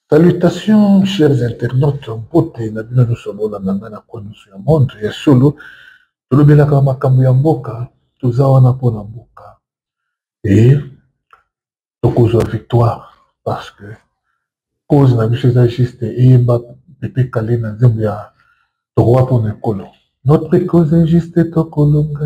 Salutations chers internautes mpote na bino nyonso bolanda ngai na kwa nyonso ya monde ya solo tolobelaka makambo ya mboka toza wana mpo na mboka e tokozwa victoire parce que cause na biso eza juste eyemba pepe kale na nzembo ya tokowa mpo na ekolo notre cause est juste tokolonga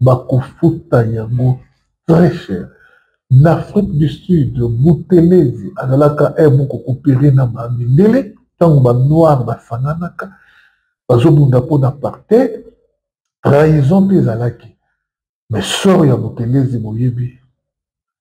bakofuta yango très cher na afrique du sud butelezi azalaka eh, mokokopere na bamindele ntango banoir basanganaka bazobunda mpo na apartheid trahison mpe ezalaki mais sor ya butelezi boyebi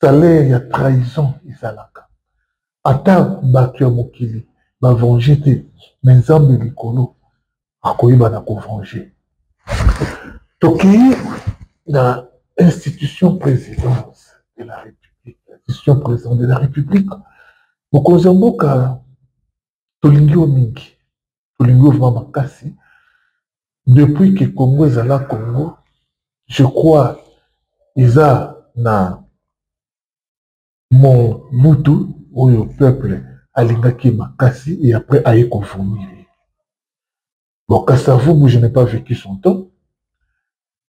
salaire ya trahison ezalaka ata bato ya mokili bavenge te me nzambe likolo akoyeba na kovenge tokei na institution présidence de la république institution présidente de la république mokonzi ya mboka tolingi yo mingi tolingi yo vraimen makasi depuis que congo ezala congo je crois eza na mobutu oyo peuple alingaki makasi et après aye kovomir bon kasavubu je n'ai pas vécu son temps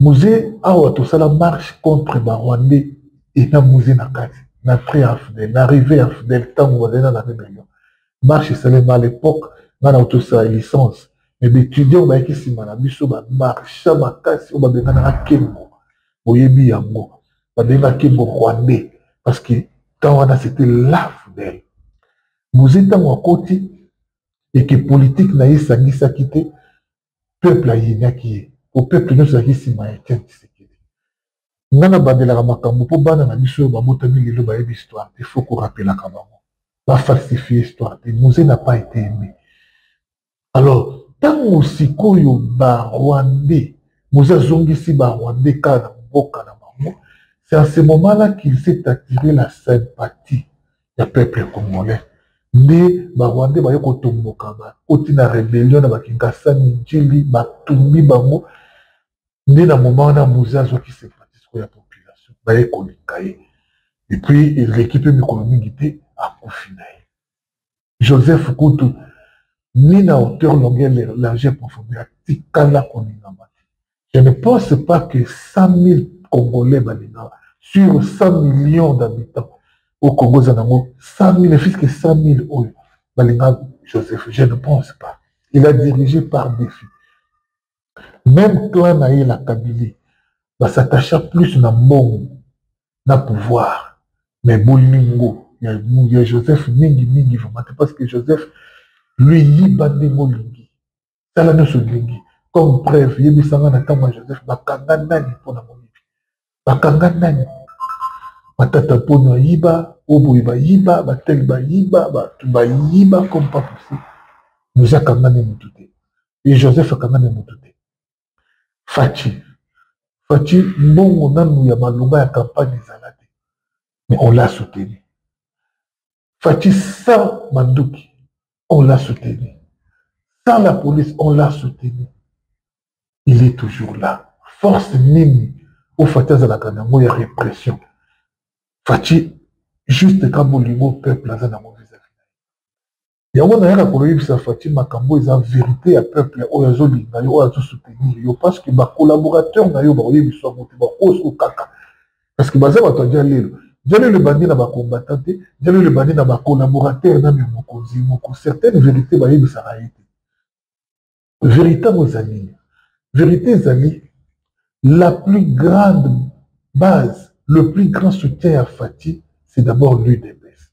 muze awa tosala marche contre barwandais ena muze na kati na frais ya fidel na rive ya fidel ntango bazali na la rebellion marche esalema à l'époque ngai na otosala licence me baetudiant bayaki nsima na biso bamarcha makasi oyo babenganaka kembo boyebi yango babengaka kembo rwandais parce que temps wana c'était la fidel muze ntango akoti eke politike na ye esangisaki te peuple ayenaki ye po peuple nyonso ezalaki nsima ya etienne tshisekedi nga nabandelaka makambo mpo bana na biso oyo babotami lelo bayebi histoire te faut korapelaka bango bafalsifie histoire te muze na pas ete aime alors ntango sikoyo barwandais muze azongisi barwandais kaka na mboka na bango c'est en ce moment là qu'il s'est attiré la sympathie ya peuple congolais nde barwandais baye kotomboka bakoti na rebellion na bakinkasa minjili batumbi bango nde na moma wana moze azwaki sympatisco ya population baye kolinga ye epuis eleki mpe mikolo mingi te akufi na ye joseph kutu ni na hauteur longueur largeur profondeur atikala koningama te Je ne pense pas que 100 000 Congolais balingaka sur 100 millions d'habitants au Congo eza nango 100 000 ne fût-ce que 100 000 oyo balingaka Joseph je ne pense pas il a dirigé par défi même clan na ye la Kabylie basatacha plus na mbongo na pouvoir mais bolingo ya, ya Joseph mingi mingi vraiment te parce que Joseph lui yiba ndenge olingi sala nyonso olingi comme preuve yebisanga na ntango ya joseph bakanga nani mpo na moyibi bakanga nani matata mpono ayiba oboye bayiba bateli bayiba bato bayiba comme pas possible nous akangani motu te e joseph akangani motu te faci faci mbongo nanu ya malonga ya campagne ezala te mais on l'a soutenu Fatshi sans Manduki, on l'a soutenu. Sans la police, on l'a soutenu. Il est toujours là. Force nini au Fatshi azalaka nango ya répression. Fatshi juste ka bolingo peuple aza nango vis-à-vis. Yango nayaka koyebisa Fatshi makambo eza vérité ya peuple oyo azolinga yo oyo azosoutenir yo parce que ba collaborateurs na yo bakoyebisa yango te bakosuka kaka parce que baza bato ya jalelo jalelo ebandi na bacombatant te jalelo ebandi na bacollaborateur na mimokonzi moko certaine vérité bayebisaka ye te vérité yango ezali vérité ezali la plus grande base le plus grand soutien ya fati c'est d'abord l'udps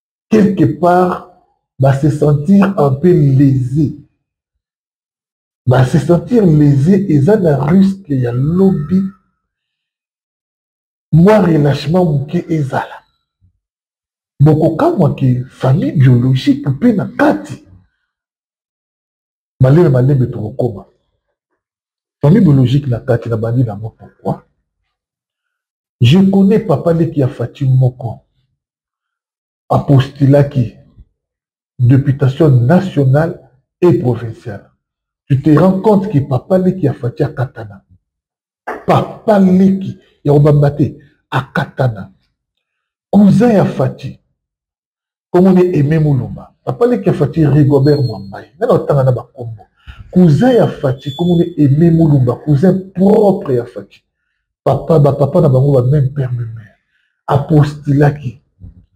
quelque part va se sentir un peu lésé va se sentir lésé et ça na risque ya lobby moi relâchement moke ezala bokokamwa ke famille biologique mpe na kati malembe malembe tokokoma famille biologique na kati na bandi nango pourquoi je connais papa leki ya fati moko apostulaki députation nationale et provinciale tu te rends compte que papa leki ya fati akatana papa leki ya kobamba te akatana cousin ya fati kombo ne aime mulumba papa leki ya fati rigobert mwambai nani otanga na bakombo cousin ya fati kombo ne aime mulumba cousin propre ya fati papa bapapa na bango ba meme père meme mère apostilaki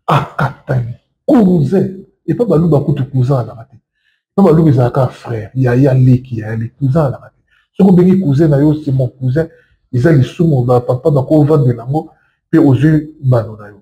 akatani cousin epa baluba kutu cousin alaka te epa baluba ezalaka frère yaya leki yaya leki cousin alaka te soki obengi cousin na yo c'est mon cousin eza lisumu bapapa bakovandela yango mpe ozwi mbano na yo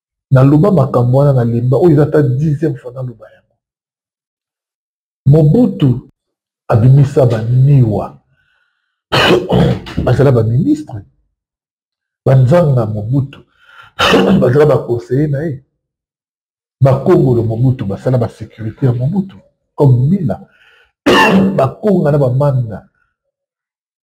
naloba makambo wana na lemba oyo eza ata dixième fois naloba yango mobutu abimisa baniwa bazala baministre banzanga mobutu bazala baconseiller na ye bakongolo mobutu basala basécurité ya mobutu comme mila bakonga na bamanda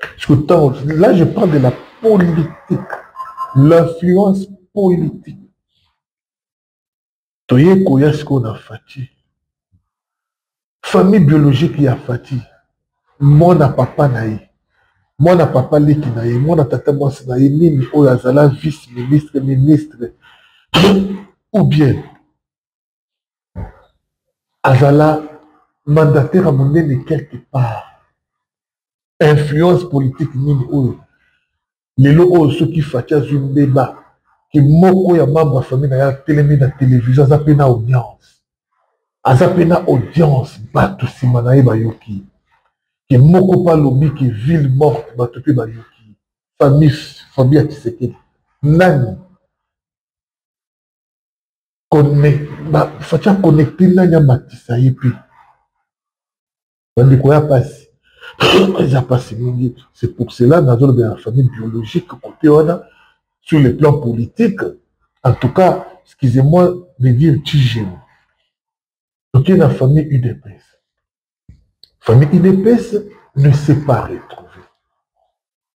Parce que tant, là, je parle de la politique, l'influence politique. toye koya sikoyo na fati famille biologique ya fati mwana papa na ye mwana papa leki na ye mwana tata mwasi na ye nini oyo azala vice ministre ministre ou bien azala mandataire ya monene quelque part influence politique nini oyo lelo oyo soki faci azwi mbeba ke moko ya membre ya famille na ye atelemi na televizio aza mpe na audience aza mpe na audience bato nsima na ye bayoki ke moko mpe alobi ke ville morte bato mpe bayoki famille famille ya kisekedi nani faci aconnecte nani amatisa ye mpe bandeko ya mpasi eza mpasi mingi c'est pour cela nazolobela na famille biologique kote wana sur le plan politique en tout cas excusez-moi de dire tijemo toke na famille udps famille udps ne s'est pas retrouvée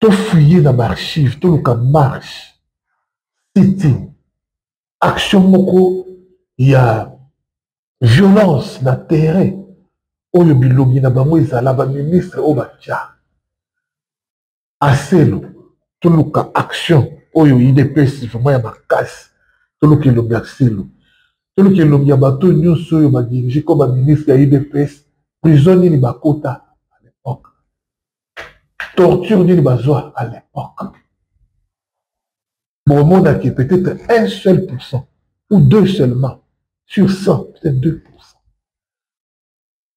tofouye na baarchive toluka marche sitting action moko ya violence na terrain oyo bilongi na bango ezala baministre oyo batya aselo toluka action oyo idps vraiment ya makasi toluka elongi ya aselo toluka elongi ya bato nyonso oyo badirige ko baministre ya idps prison nini bakota à l'époque torture nini bazwa à l'époque bomonaki peut-être un seul pourcent ou deux seulement sur 100 peut-être 2 pourcent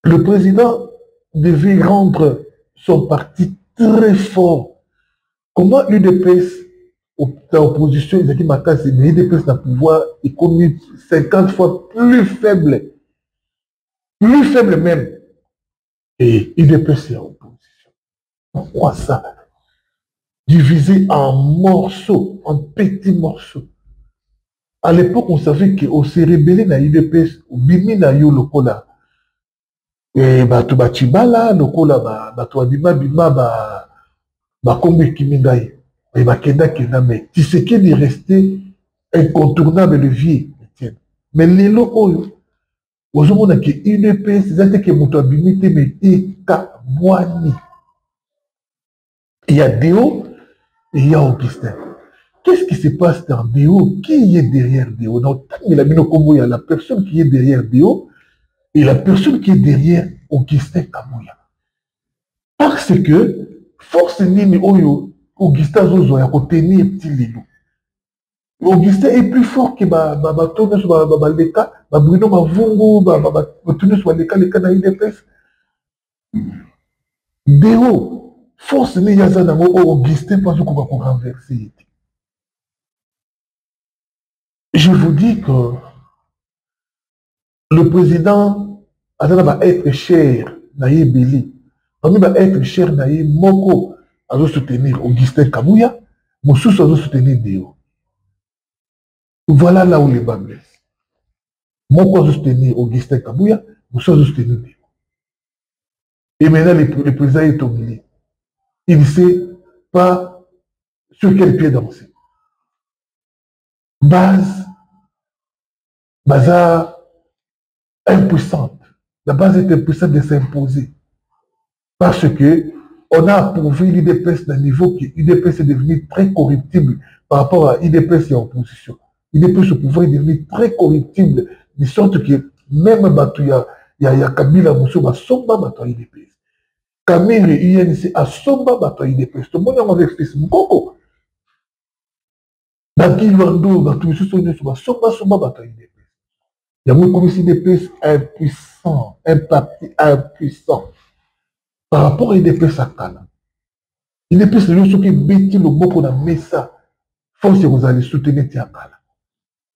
le président devait rendre son parti très fort comment l'udps na opposition ezalaki makasi mais udps na pouvoir ekomi 50 fois plus faible plus faible même et udps ya opposition pourquoi ça divisé en morceaux en petits morceaux à l'époque on savait que ose rebele na udps obimi na yo lokola e, bato bacibala lokola bato babimabima bakombo ekimi ngai e, bakendakenda mais tisekedi reste incontournable le vieux mais lelo oyo ozomona ke udps eza te ke moto abimi te me ekabwani ya deo eya augustin qu'est-ce qui se passe dans deo qui est derrière deo na otangela bino nkombo ya la personne qui est derrière deo et la personne qui est derrière augustin kamuya parce que force nini oyo augustin azozwa ya kotenir ti lelo Augustin est plus fort que ba ba ba tout nous ba ba ba leka ba Bruno Mavungu ba ba ba tout nous ba leka leka na IDPS Deo force ni yaza na ngo oh, Augustin pas ko ko renverser je vous dis que le président aza na baêtre cher na ye ebele parmi baêtre cher na ye moko azosoutenir augustin kabuya mosusu azosoutenir deo voilà là où le bas blesse moko azosoutenir augustin kabuya mosusu azosoutenir deo et maintenant le, le président est au milieu il ne sait pas sur quel pied danser base baza impuissante la base est impuissante de s'imposer parce que on a approuvé l'udps d'un niveau que udps est devenu très corruptible par rapport à udps et à opposition udps au pouvoir est devenu très corruptible de sorte que même bato ya, ya, ya kabila mosusu basomba bato ya udps kamere unc asomba bato ya udps tomoni yango avec fils mokoko na kilwando bato misusu nyonso basombasomba bato ya udps yango ekomisi udps impuissant un parti impuissant par rapport ya udps ya kala udps lelo soki ebeti loboko na mesa force ekozala lisusu te neti ya kala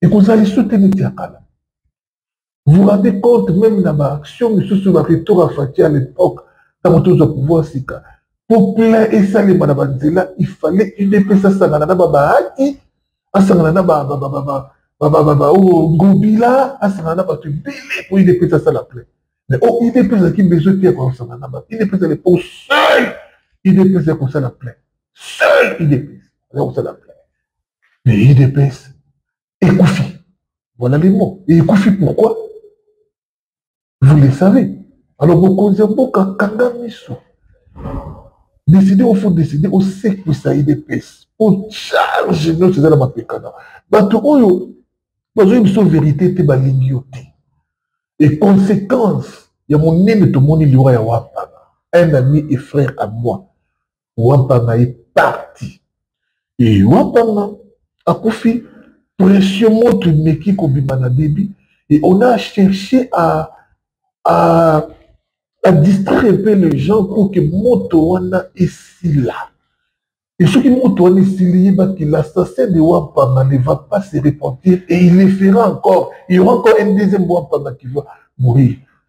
ekozala lisusu te neti ya kala vous rendez compte même na ba action misusu ba retour ya fati à l'époque ntango tozwa pouvoir sika mpo plein esalema na banzela il fallait udps asangana na babahati asangana na ngobila asangana na bato ebele mpo udps asala plein mais o udps azalaki besoin te ya kosangana na bato udps à l'époque seul udps ya kosala plein seul udps aza kosala plein mais udps ekufi voilà les mots ekufi pourquoi vous le savez alors mokonzi ya mboka kanga miso décide ofo décide osekwisa idps mpo charge nyonso eza na mapekana bato oyo bazoyebi biso verité te balingi yo te e conséquence ya monene tomoni liwa ya wapana un ami et frère à moi wampanga ye parti e wampanga akufi pression moto emeki kobima na debi et on a cherché à, à, à distraire un peu les gens pour que moto wana esila et soki moto wana esili yebaki l'assassin de wampanga ne va pas se repentir et il le fera encore il y aura encore un deuxième wampanga qui va mourir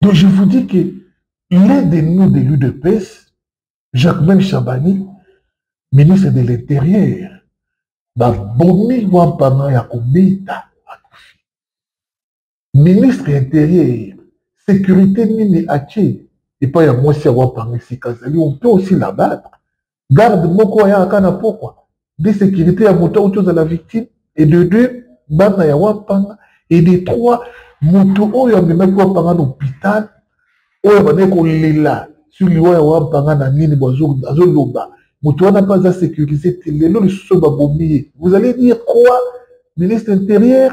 Donc je vous dis que l'un de nous de l'UDPS, Jacquemin Chabani, ministre de l'Intérieur, babomi wampano ya kobeta akufi ministre ya interieur sécurité nini atie epai ya mwasi ya wampano esika azali on peut aussi l'abattre garde moko ayaka na pokwa de sécurité ya moto auti ozala victime et de deux bana ya wampanga et de trois moto oyo amemaki wampanga na hôpital oyo abandaki kolela sur liwa ya wampanga na nini bo azoloba moto wana mpe aza sécurise te lelo lisusu babomi ye vous allez dire quoi ministre intérieur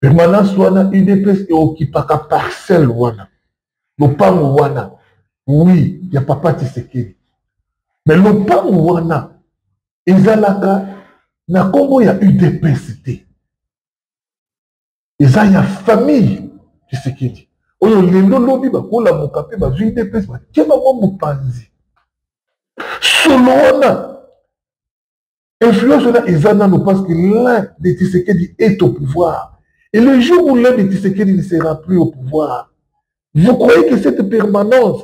permanence wana udps eokipaka parcelle wana lopango wana wi ya papa tisekedi me lopango wana ezalaka na nkombo ya udps te eza ya famille tisekedi oyo lelo lobi bakolamuka mpe bazwi udps batye bango mopanzi solo wana Influence wana eza nano parce que l'un de Tshisekedi est au pouvoir. Et le jour où l'un de Tshisekedi ne sera plus au pouvoir, vous croyez que cette permanence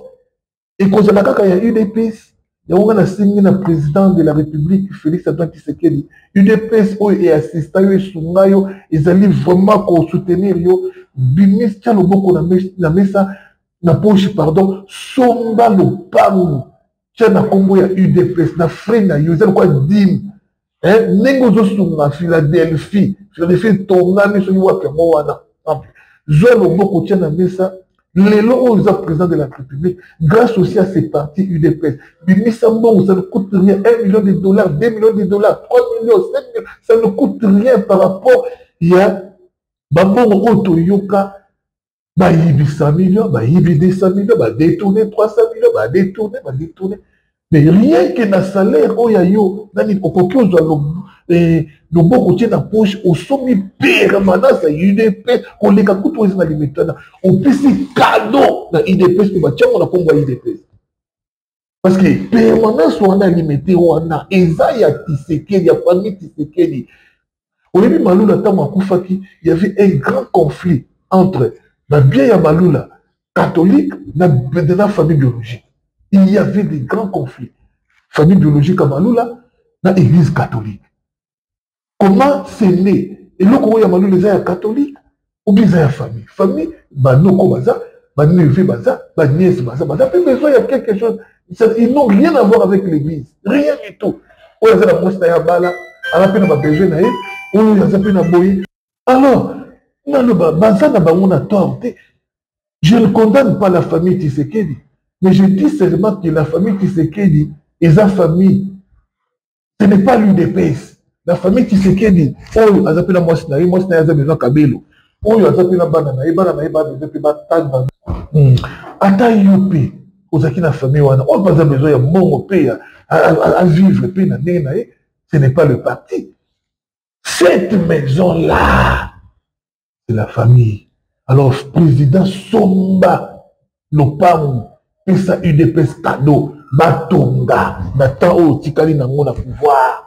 ekozala kaka ya udps yango nga nasengi na président de la république félix antoine tshisekedi udps oyo eassista yo esunga yo ezali vraiment kosoutenir yo bimis tya loboko na mesa na poche pardon somba lopango tia na nkombo ya udps na frais na yo eza lokwa dime eh, ndenge ozosunga philadelphie philadelphie etongami soki wapi yango wana zwa loboko tia na mesa lelo oyo oza président de la république grâce aussi à ces parti udps bimisa mbongo ça ne coûte rien 1 million de dollars 2 millions de dollars 3 millions 5 millions ça ne coûte rien par rapport ya bambongo oyo toyoka bayibi 100 million bayibi 200 million badetourne 300 million badetourne badetourne mais rien que na salaire oyo ya yo nani okoki ozwa eh, loboko tie na poche osombi permanence ya udps koleka kutu eza na limitana opesi kado na udps mpe batiango na nkombo ya udps parce que permanence wana limete wana eza ya tisekeli ya famille tisekeli oyebi malula ntango akufaki y avait un grand conflit entre babien ya malula catholique na, na famille biologique il y avait des grands conflits famille biologique ya malula na église catholique comment c'est né eloko oyo ya malulu eza ya catholique obi eza ya famille famille banoko baza baneve baza baniese baza baza mpe besoin ya quelque chose ils n'ont rien à voir avec l'église rien du tout oyo aza na mwasi na ye abala aza mpe na babesoin na ye oyo aza mpe na boye alors naloba baza na bango na tort te je ne condamne pas la famille tisekedi mais je dis seulement que la famille tisekedi eza famille ce n'est pas l'udps la famille tshisekedi oyo aza mpe na mwasi na ye mwasi na ye aza besoin kabelo oyo aza mpe na bana na ye bana na ye babesoin mpe batanga hmm. ata yo mpe ozalaki na famille wana oyo mpe aza besoin ya mbongo mpe ya avivre mpe na ndenge na ye ce n'est pas le parti cette maison là c'est la famille alors président somba lopangu pesa udps cadeau batonga na temps oyo otikali nango na pouvoir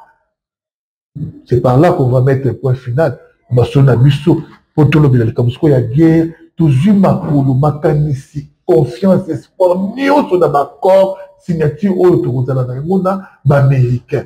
c'est par là qu'on va mettre point final masolo na biso mpo tolobela likambo sikoyo ya guerre tozwi makolo makanisi confiance espoir nyonso na baaccord signature oyo tokozala na yango na baaméricain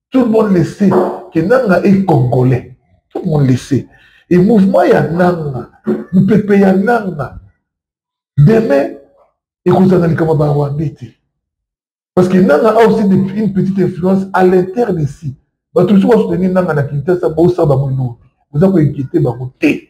tout le monde le sait que nanga est congolais tout le monde le sait et mouvement ya nanga mopepe ya nanga demain ekozala likambo ya barwandais te parce que nanga a aussi une petite influence à l'interne ici bato mosusu basoutenir nanga na kinshasa bosala bango elobi oza koinquiete bango te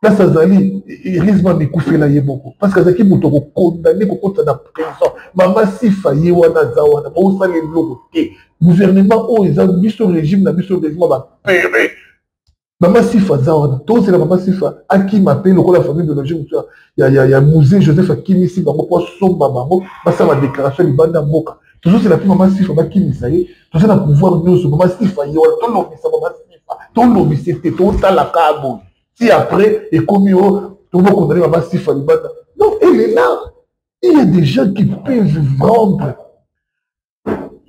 place azali eglise mama ekufela ye moko parce que azalaki moto akokondane kokota na prison mama sifa ye wana aza wana baosala eloko te gouvernement oyo eza biso régime na biso régime bapere mama sifa aza wana tozela mama sifa akima mpe lokola famille biologie mosu ya, ya, ya musée joseph akimisi bango mpo asomba bango basala badéclaration libanda mboka tozozela mpe mama sifa bakimisa ye toza na pouvoir nyonso mama sifa ye wana tolobisa mama sifa tolobisa te totalaka boye ti après ekomi o oh, tobokondani mama sifa libanda non elle est là il y a des gens qui peuvent vendre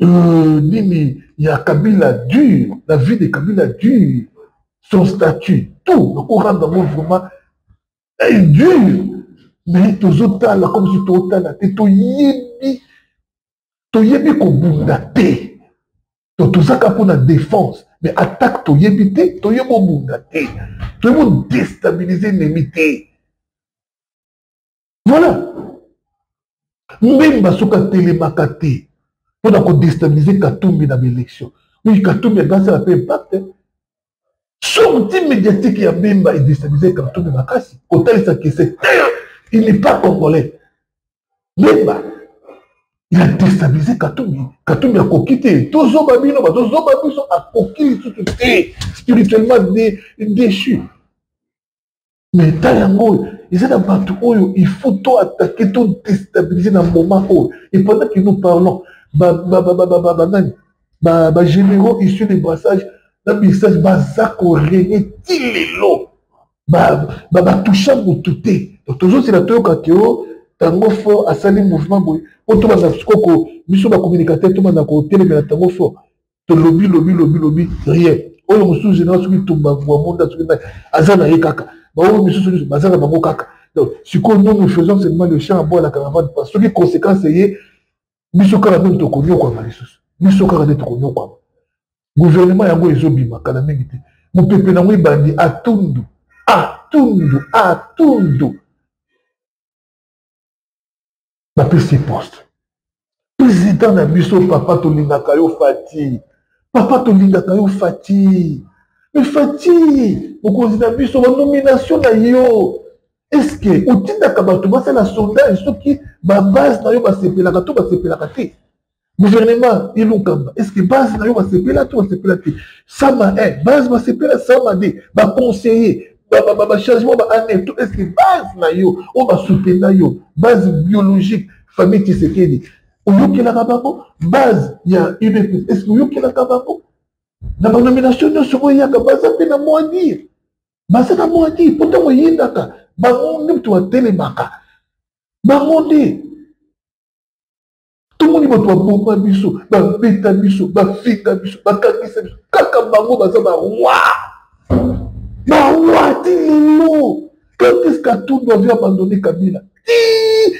euh, nini ya kabila dur la vie de kabila dur son statut tout nakoranda yango vraiment est dur mais tozotala comme si totala te toyebi toyebi kobunda te to tozaka mpo na défense mais attaque toyebi te toye bobunda te toye bodestabilise enemi te voilà mbemba soki atelemaka te mpo na kodestabilise katumbi na baélection oui katumbi agasala mpe impact sorti médiatique ya mbemba edestabilise katumbi makasi kotalisa kese te il n'est pas congolais yeba ya destabilise katumbi katumbi akoki te tozoba bino batozoba biso akoki lisusu te spirituellement déchu mais ta yango oyo eza na bato oyo il faut to attaquer to destabilise na moment oyo et pendant que nous parlons banani bagénéraux issus de brassage na message baza korene ti lelo babatusha ba, ba motu te tozozela toyoka ke o oh, tango fort asali mouvement boye po tobanda sikoko biso bacommunicateur tobanda kotelemela tango fort tolobi lobi lobi lobi rien oyo mosusu général soki tumba vuamonda soki nani aza na ye kaka baoyo misusu nyonso baza na bango kaka donc sikoyo nous nous faisons seulement le champ à bois la caravane parce soki conséquence eye biso kaka nini tokonyokwama lisusu biso kaka nde tokonyokwama guvernema yango ezobima kala mingi te mopepe na yango ebandi atundu atundu atundu bapesi poste président na biso papa tolingaka yo fati papa tolingaka yo fati me fati mokonzi na biso banomination na yo eske otindaka bato basala sondage soki babase na yo basepelaka to basepelaka te gouvernement ilukamba est ce que base na yo basepela to basepela te sama e base basepela sama de baconseiller bachangement baannée to est ce que base na yo oyo basoutenga yo base biologique famille tisekedi oyokelaka bango base ya udps est ce que oyokelaka bango na banomination nyonso oyo eyaka baza mpe na mwa dire baza na mwa dire mpo ntango eyindaka bango nde moto batelemaka bango nde tomoni bato baboma biso babeta biso bafinga biso bakangisa biso kaka bango baza barwa barwa ti lelo quand est-ce qu'Atoun doit abandonner Kabila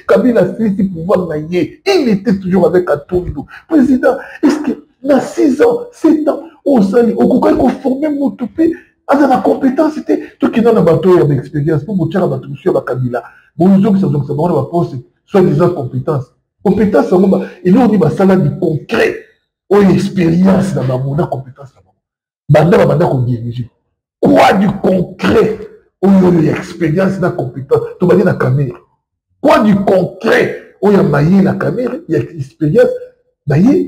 Kabila asilisi pouvoir na ye il était toujours avec Atundu président est-ce que na 6 ans 7 ans osali okokaki koforme moto mpe aza na compétence te tokenda na bato oyo ya baexpérience mpo botyaka bato mosusu ya bakabila bozongisa zongisa bango na baposte soit disant compétence compétence yango eloko nini basala du concret oyo expérience na bango na compétence na bango banda babanda kodirige quoi du concret oyo oyo ya expérience na compétence tobandi na kamere quoi du concret oyo ya maye na kamere ya expérience na ye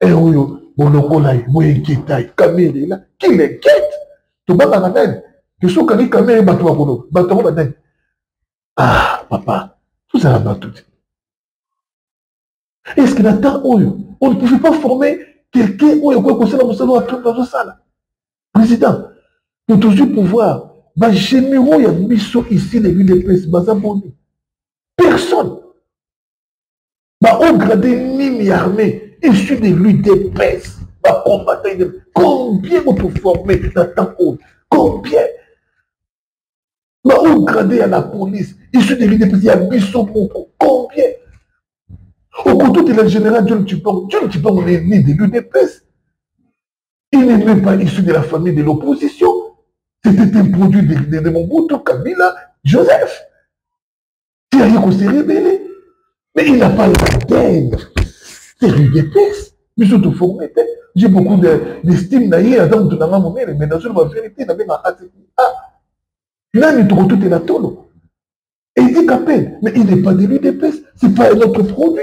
e oyo bolokola ye boyeketa ye kamere la kilekete tobangaka nani tosokaki kamere bato bakoloba bato yango banani ah papa tozala bato te est ce que na temps oyo on ne pouvait pas former quelqu'un oyo akoki kosala mosala oyo trump azosala président to tozwi pouvoir bagénéraux ya biso ici na udps baza boni personne baoyo grade nini ya armée issu de l'udps bacombattant idem combien boto forme na temps oyo combien baoyo grade ya la police issu de l'udps ya biso moko combien okotutela général john chipango john chipango ne ni de l'udps il n'est même pas issu de la famille de l'opposition c'était un produit de, de, de mobutu kabila joseph Il a rien qu'on s'est révélé. Mais il n'a pas la tête. C'est Rudepes. biso toforme te j'ai beaucoup d'estime na ye aza moto na nga monene mais nazwi ba vérité na benga atiki a nani tokotutela tolo edika peine mais il n'est pas de l'udps c'est pas notre produit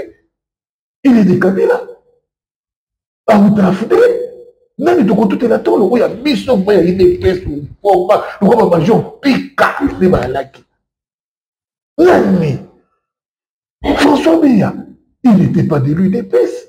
il est de kabila awuta afute nani tokotutela to loko ya biso mpo ya udps forma loko bamajor pika nde balaki nani françois beya il n'était pas de l'udps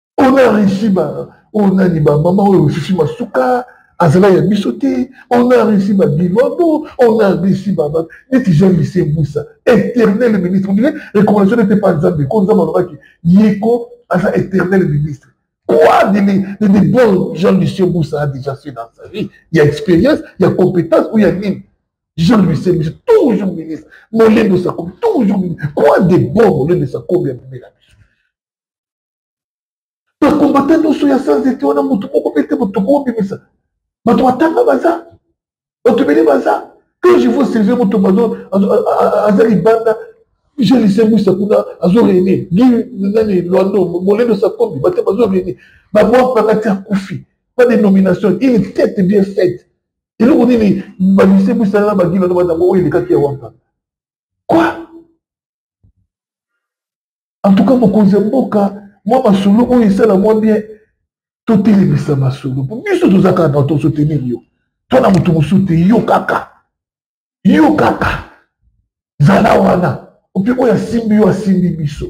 on a réussi ba on a ni ba maman oyo susu masuka azala ya biso te on a réussi ba bilwabo on a réussi ba ba neti jean lycée mbusa éternel ministre on dirait recommandation n'était pas nzambe ko nzambe alobaki yeko aza éternel ministre quoi de, de, de, de bon jean lycée mbusa a déjà fait dans sa vie il y a expérience il y a compétence ou il y a nini jean lycée mbusa toujours ministre molendo sakobi toujours ministre quoi de bon molendo sakobi ya bimela bakombata nyonso ya sanzete wana motu moko mpe te moto tokobimisa bato batanga baza bato ebele baza quand je vois sylvie motombo aza libanda je lisembwisa kuna azo rene gi nani lwando molendo sakombi bate bazo rene babwakaka ti akufi pas de nomination une tête bien faite eloko nini balisembwisa na bagilano batango oyo elekaki ya wampa quoi en tout cas mokonzi ya mboka mwa masolo oyo esala mwa bien totelemisa masolo mpo biso toza kaka na tosotenir yo to na moto mosusu te yo kaka yo kaka zala wana mpe oyo asimbi yo asimbi biso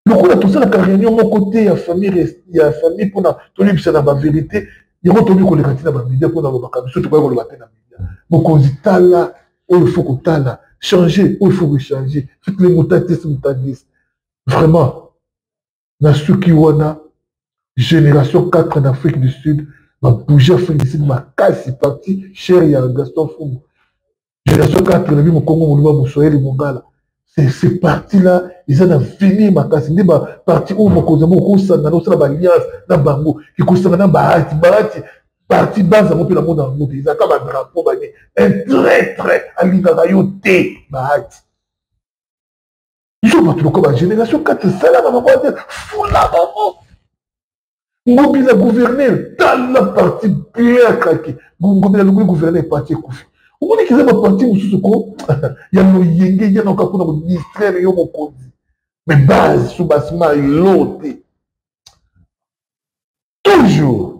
lokola tosalaka réunion moko te ya famille ya famille mpona toyebisana baverité yango toyebi koleka ntina bamedia mpona lobaka biso tokoki koloba te na media mokonzi tala oyo faut kotala changer oyo faut kochanger soki le motatisi motatisi vraiment na suki wana génération 4 na afrique du sud babouge afrique du sud makasi parti cher ya gaston fumu génération 4 nabi mokongo moluba moswahili mongala ce parti là eza na vini makasi nde baparti oyo mokonzi yango okosangana osala baalliance na bango ekosangana bahati bahati parti base yango mpe na mona yango te ezalaka badrapo bane un traitre alingaka yo te bahati biso bato lokola bagénération kati esalaka bango te fula bango ngobi na gouverneur tala parti bien akraki ngobi na lobi gouverneur parti ekufi omoni kiza baparti mosusu ko ya loyenge yanaka mpona kodistraire yo mokonzi me base su basima elo te toujours